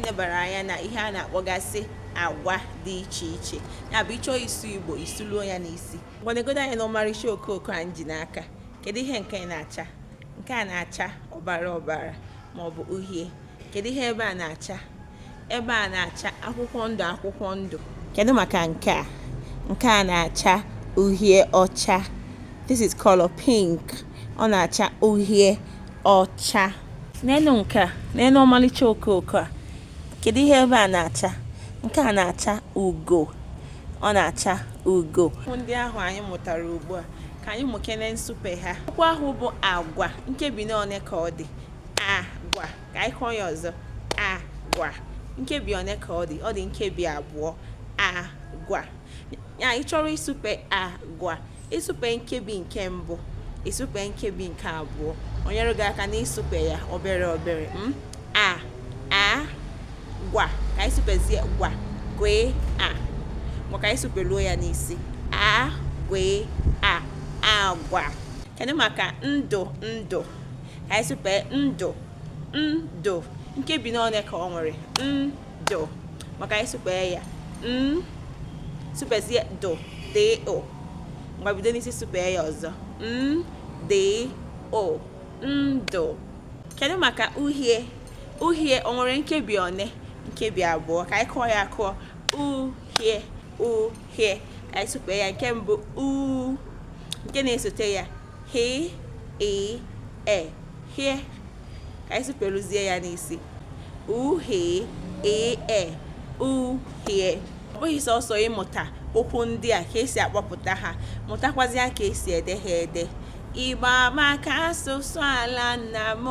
nebara anya na ihe a na-akpọgasị agwa dị iche iche ya bụ ị chọọ ịsụ igbo ị sụluo ya n'isi ngwa negodo anya na ọmarịcha okooko anyị ji n'aka kedu ihe nke na-acha nke a na-acha ọbara ọbara ma ọ bụ uhie kedu ihe ebe a na-acha ebe a na-acha akwụkwọ ndụ akwụkwọ ndụ kedu maka nke a nke a na-acha uhie ọcha this is color pink ọ na-acha uhie ọcha n'elu nke a n'elu ọmalịcha okooko a kedu ihe ebe a na-acha nke a na-acha ugo ọ na-acha ugo ndị ahụ anyị mụtara ugbu a ka anyị mụkene nsupe ha okwu ahụ bụ agwa nkebi n'one ka ọ dị agwa ka anyị kụọ ya ọzọ agwa nkebi one ka ọ dị ọ dị nkebi abụọ agwa ya ị chọrọ ịsụpe agwa ịsụpe nkebi nke mbụ ịsụpe nkebi nke abụọ o nyere gị aka na ịsụpe ya obere obere m hmm? a a gwa ka anyị sụpezie gwa gwị a ngwa ka anyị sụpeluo ya n'isi a gwị a agwa kedu maka ndụ ndụ ka anyị sụpe ndụ ndụ nkebi n'one ka o nwere dụ ngwa ka anyị supee ya n supezie dụ dị ụ ngwa bido n'isi supee ya ọzọ n dị ụ ndụ kedu maka uhie uhie o nwere nkebi one nkebi abụọ ka anyị kụọ ya akụọ uhie uhie ka anyị supee ya nke mbụ u nke na-esote ya Hị, i, e, hie. Ka anyị superuzie ya n'isi. U, hị, i, e, uhie. Ọ bụghị sọsọ ịmụta okwu ndị a ka e si akpọpụta ha, mụtakwazịa ka e si ede ha ede. Igbo amaka asụsụ ala nna m,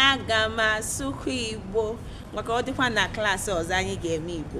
aga m asụkwa Igbo. Ngwa ka ọ dịkwa na klaasị ọzọ anyị ga-eme Igbo.